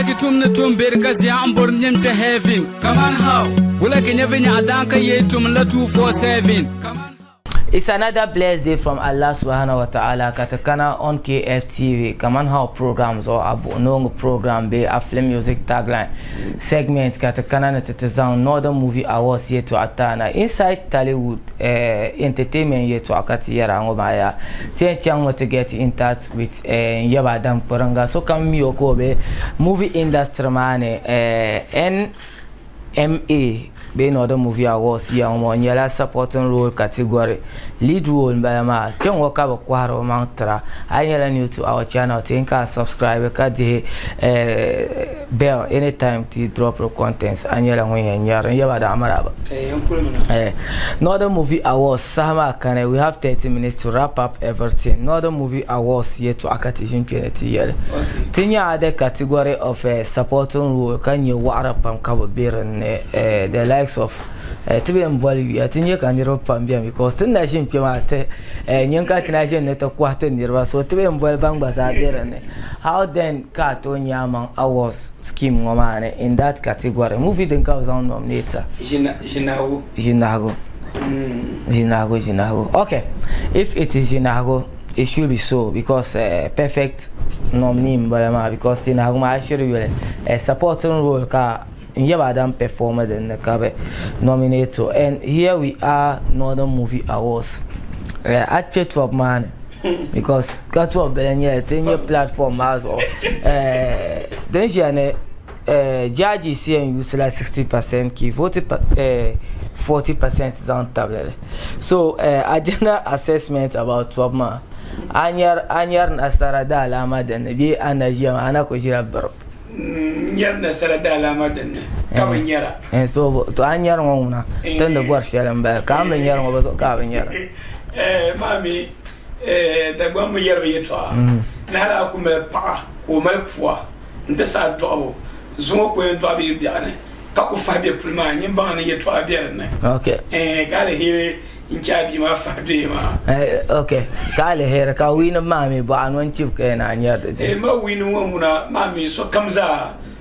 Ki tum ni tum beri ka zia n bori nim kpe heaven. Kaman how? Wula ki nyɛ vinyaɣa daan ka yee tum la 247. Kaman It's another blessed day from Allah Subhanahu wa Ta'ala ka ti kana on KFTV Kaman How program zuɣu a buɣi noongi program bee a film music tagline segment ka ti kana ni ti ti zaŋ Northern Movie Awards yɛtɔɣa ti a na inside Tollywood eh, entertainment yɛtɔɣa ka ti yɛri a ŋɔ maa yaa ti yɛn chaŋ mi ti get in touch with eh, n yaba Adam Kpiringa sokam mi o ka o be movie industry maa ni eh, NMA bee Northern Movie Awards ya ŋɔ o nyɛla supporting role category lead role n bala maa kpe ŋɔ ka bi kɔhiri o maŋ tira a yi nyɛla new to our channel ti ka a subscribe ka dihi eh, bell anytime ti drop the contents a nyɛla ŋun yɛn nyɛri n yaba Adam Amaraba eh, Northern Movie Awards Saha maa kani we have 30 minutes to wrap up everything Northern Movie Awards yɛltɔɣa ka ti ʒin kpe ni ti yɛli. Ti nya a the category of eh, supporting role ka nya waɣira pam ka bɛ be din ni eh, the likes of eh, ti bɛn boli yuya ti nya ka niriba pam beni because ti ni na ʒin kpe maa ti eh, nyin ka ti na ʒin ni ti kɔhi ti niriba so ti bɛn boli ban gba zaa be din ni. How then ka a tooi nya amaŋ awards? scheme ŋɔ maa ni in that category movie din ka bi zaŋ nominate ʒinahigu ʒinahigu ʒinahigu ʒinahigu okay if it is ʒinahigu it should be so because uh, perfect nominee n bala maa because ʒinahigu maa shiri yuli uh, supporting role ka n yɛ ba dan perform din ni ka bi nominate to and here we are northern movie awards uh, a kpɛ top maa ni because ka tuɣi bili n nyɛli ti nyɛ platform maa zuɣu din ʒiya ni jaaji sia n yuusi la 60 percent ka i vooti 40 percent zaŋ tabili li so agenda assessment about tɔbu maa a ni yɛri nasara daalaama din ni bee a ni na ʒiya maa a ni na kuli ʒila biribu n yɛri nasara daalaama din ni ka bi nyɛra to a ni yɛri ŋɔ ŋuna ti ni bɔri shɛli n bala ka a ni bi nyɛri ŋɔ bi zuɣu ka a bi nyɛra eh, Dagbaŋ mi yɛri mi yɛtɔɣa mm. ni hali a ku mali paɣa ka o mali pua n ti saha dɔɣibu zuŋɔ ku yɛn dɔɣi bɛ biɛɣu ni ka ku fahi bɛ puli maa nyin baŋ ni yɛtɔɣa bɛ dinni eh, ka aliheri n chɛ a bia maa fahi doya maa eh, ok ka aliheri ka wiinima maa mi bɔɣa ni o ni chibi ka yɛn a nyɛri di eh, ma wiinima ŋɔ ŋuna maa mi sokam zaa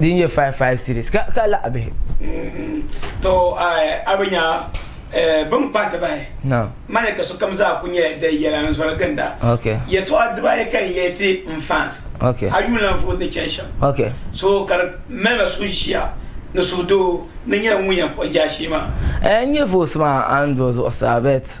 din nyɛ 55 series ka ka laɣa bihi to a bi nya bin kpahi ti bahi mani ka sokam zaa ku nyɛ di yɛla n zɔri ginda yɛtɔɣa dibaayi ka n yɛli ti n fans a yuun lan vooi ni chɛni shɛm so ka di malila suhuʒiya ni suhudoo ni nyɛla ŋun yɛn kpuɣi jaashee maa n nyɛ voos maa a ni do zuɣusaa bɛt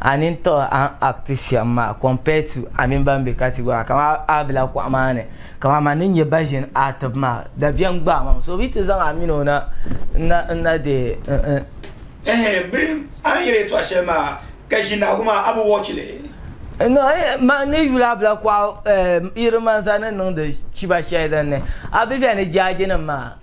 a nini tiɣi a ni act shɛm maa compare to a mini ban be category maa kamani a bela kuɣa maa ni kamani man din nyɛ ba ʒin act maa dabiɛm gbaai ma mi so bɛ yi ti zaŋ a mini o na n na deei Ehe bɛ a ni yɛli yɛtɔɣ shɛli maa ka ʒindahigu maa a bi watch li? No eeh man ni yuli a bela kuɣa eh yiri manza ni niŋdi chiba shɛli din ni a bi beni jaajinim maa.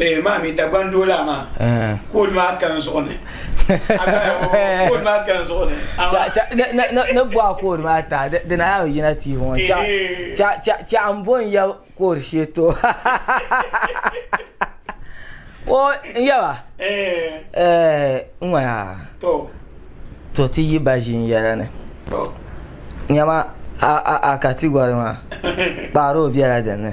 Ee maa mi Dagban doo laa maa koodi maa ka n zuɣu ni koodi maa ka n zuɣu ni ni bɔha koodi maa ta di na yaa yina tii ŋɔ chaɣa n bo n ya koodi shee to o n yaba n ŋɔya to ti yi ba ʒin yɛla ni nyama a katigɔri maa kpaari o bela dinni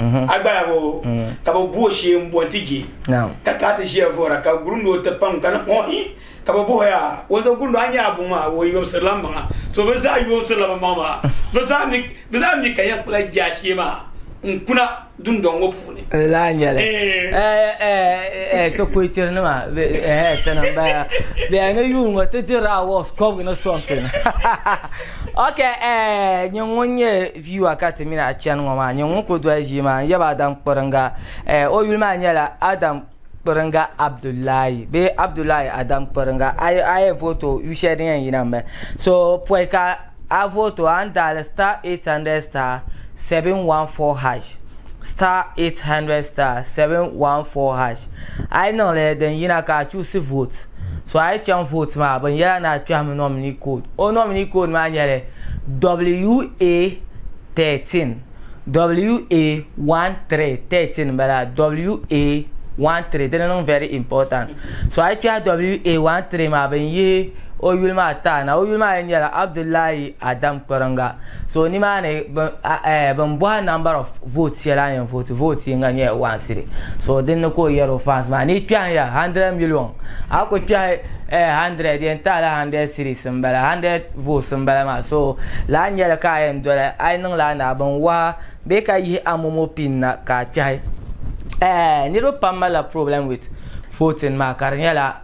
mhm. a gbaya ŋɔ mhm. ka bi bu o shee n bɔn ti je ka ka ti ʒiya vora ka gurundo o ti pam ka ni ŋɔ hi ka bi buhi ya wonzo gurundo a nyɛ a buŋ maa o yobisirila n maŋa so bi zaa yomsirila bi maŋ maa bi zaa mi bi zaa mi ka yɛn kpula je a shee maa n kuna dundɔŋ ŋɔ puuni laa nyɛli ti kuitiri nima tana n bala bɛya ni yuun ŋɔ ti dirila awards kɔbigi ni something ok nyɛ ŋun nyɛ Viewer ka ti mini a chani ŋɔ maa nyɛ ŋun kuli doli ʒii maa n yaba Adam Kpiringa eh o yuli maa nyɛla Adam Kpiringa Abdullahi bee Abdullahi Adam Kpiringa a yi a yi vote o yu shɛli din yɛn yina m bala so pɔi ka a vote o a ni daali star 800 star 714 hash star 800 star 714 hash. A yi niŋ lala din yina ka a chuɣisi vote. So a yi chaŋ vote maa bin yɛla ni a kpɛhimi nominee code. O nominee code maa nyɛli WA 13. WA 13, 13 n bala. WA 13 dini niŋ very important. So a yi kpɛhi WA 13 maa bin yihi o yuli maa taana. O yuli maa yɛn nyɛla Abdullahi Adam Kperinga. So nimaani bin eh, bin bɔha number of votes shɛli a yɛn vote vote yinga nyɛla one city so din ni ka o yɛri o fans maa ni kpɛhi ya hundred million a ku kpɛhi eh, hundred yɛn taala hundred cities n bala hundred votes n bala maa so laa nyɛli ka a yɛn doli a yi niŋla a naa bin waha bee ka yihi a momo pin na ka a kpɛhi eh, niriba pam malila problem with voting maa ka di nyɛla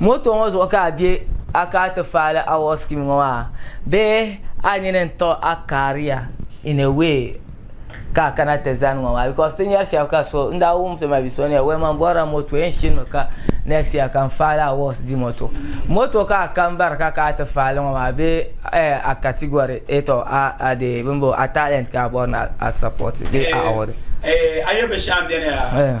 Moto ŋɔ zuɣu ka a be a ka ti faali award scheme ŋɔ maa bee a nini n-tiɣi a career in a way ka a kana ti zani ŋɔ maa because ti nyari shɛba ka so n daa wum so maa bɛ so ni yɛli wɛma m-bɔrila moto yɛn shini mi ka next year ka n faali awards di moto moto ka a ka m-bari ka ka a ti faali ŋɔ maa bee ɛɛh a category eto a deei bimbo a talent ka a bɔri ni a support bee a award. Eeh a yuli binshɛɣu m-beni yaa.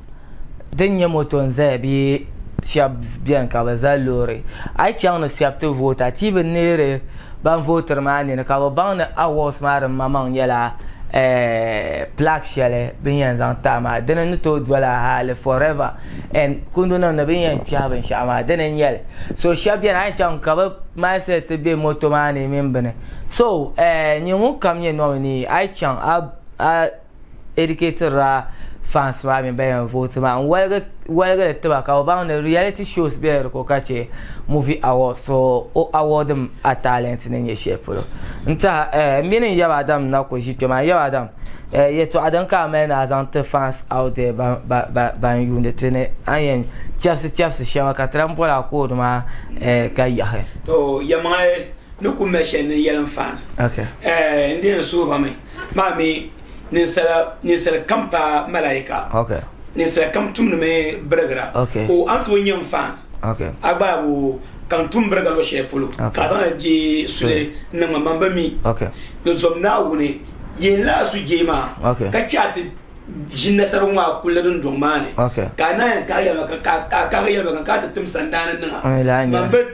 din nyɛ moto n zaya bee shɛba bɛni ka bi za loori a yi chaŋ ni shɛba ti voota ti yi bi neeri ban vootiri maa nini ka bi baŋ ni awɔds maa din maŋmaŋ nyɛla pilaak shɛli bini yɛn zaŋ taai maa dini ni tooi dola hali fɔrɛva ɛn kundi nim ni bini yɛn kpɛhi binshɛɣu maa dini n nyɛli so shɛba bɛni a yi chaŋ ka bi maasɛt ti bɛ moto maa ni mini bini so nyɛ ŋun kam nyɛ nɔminii a yi chaŋ a educated ra fans maa mini ba yɛn vote maa n waligi waligi li tiba ka o baŋ ni reality shows bela di ko ka che movie awards so o award mi a talent ni nyɛ shɛli polo n taha eh, mini n yaba Adam na ko ʒi kpe maa n yaba Adam eh, yɛtɔɣa din ka a mali ni a zaŋ ti fans out there ban ba ba ban yuuni ti ni a ni yɛn chɛbisi chɛbisi shɛba ka ti lan boli a koodi maa eh, ka yahi. To yɛlimaŋli ni ku mali shɛli ni yɛlim fans okay eh, n di yɛn suhi ba mi. maa mi ninsal kam pa malaika ninsal kam tumdimi birigira o a ni tooi nyɛ n fan a gbaabu ka n tum biriga luɣ shɛli polo ka a zaŋli jee suli n niŋ ma man bi mi di zom Naawuni yɛn la a sujee maa ka chɛ a ti ʒi nasaragu maa kulli dundɔŋ maa ni ka a naai yɛn kahi yɛlimaŋli ka a kahi yɛlimaŋli ka a ti tim sandaani niŋa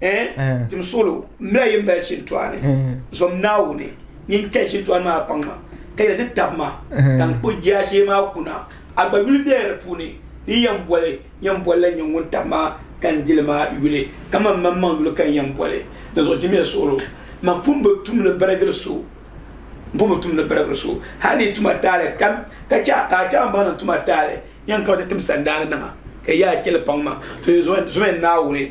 Eh, tim solo mila yin bali shintuani zom naawuni nyin chɛ shintuani maa kpaŋ ma ka yɛli ti tab ma tankpo jaashee maa kuna a gba yuli bela di puuni ni yɛn boli yɛn boli la nyɛ ŋun tab ma ka n dili ma yuli ka man man maŋ yuli ka n yɛn boli dinzuɣu jimiya suɣulo man pun bi tum ni birigiri so n pun bi tum ni birigiri so hali ni yi tuma taali kam ka chɛ ka a chɛ a ni baŋ ni n tuma taali yɛn kana ti tim sandaani nima ka yaa chɛli paŋ ma to yi zom naawuni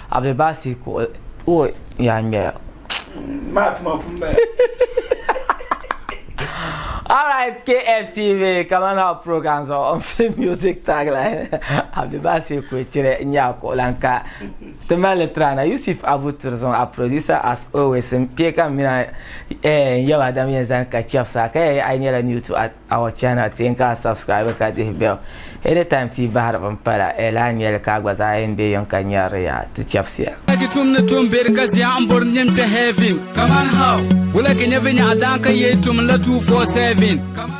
Abdul Basit kuɣu o yaa ŋmɛya. Maa tuma pun bala. All right, KFTV, coming up programs on film music tagline. Abdul Basit kuɣu chire nya kuɣu lan ka. Timali trana Yusuf Abu Tirzon, a producer as always. Mpiye ka mina eh yaba dam yen zan ka chefsa ka eh ay nyela new to art. our channel ti yɛn ka subscribe ka dihi bell anytime ti bahiri bin pala e lahi nyɛli ka a gba zaa yɛn bɛ yɛn ka nyɛrili ya ti chɛbisiya. Wulagi tum ni tum beri ka zia n bori nim kpɛ heaven. Kaman how? Wulagi nyɛ vinya a daan ka yee tum la 247. Kaman.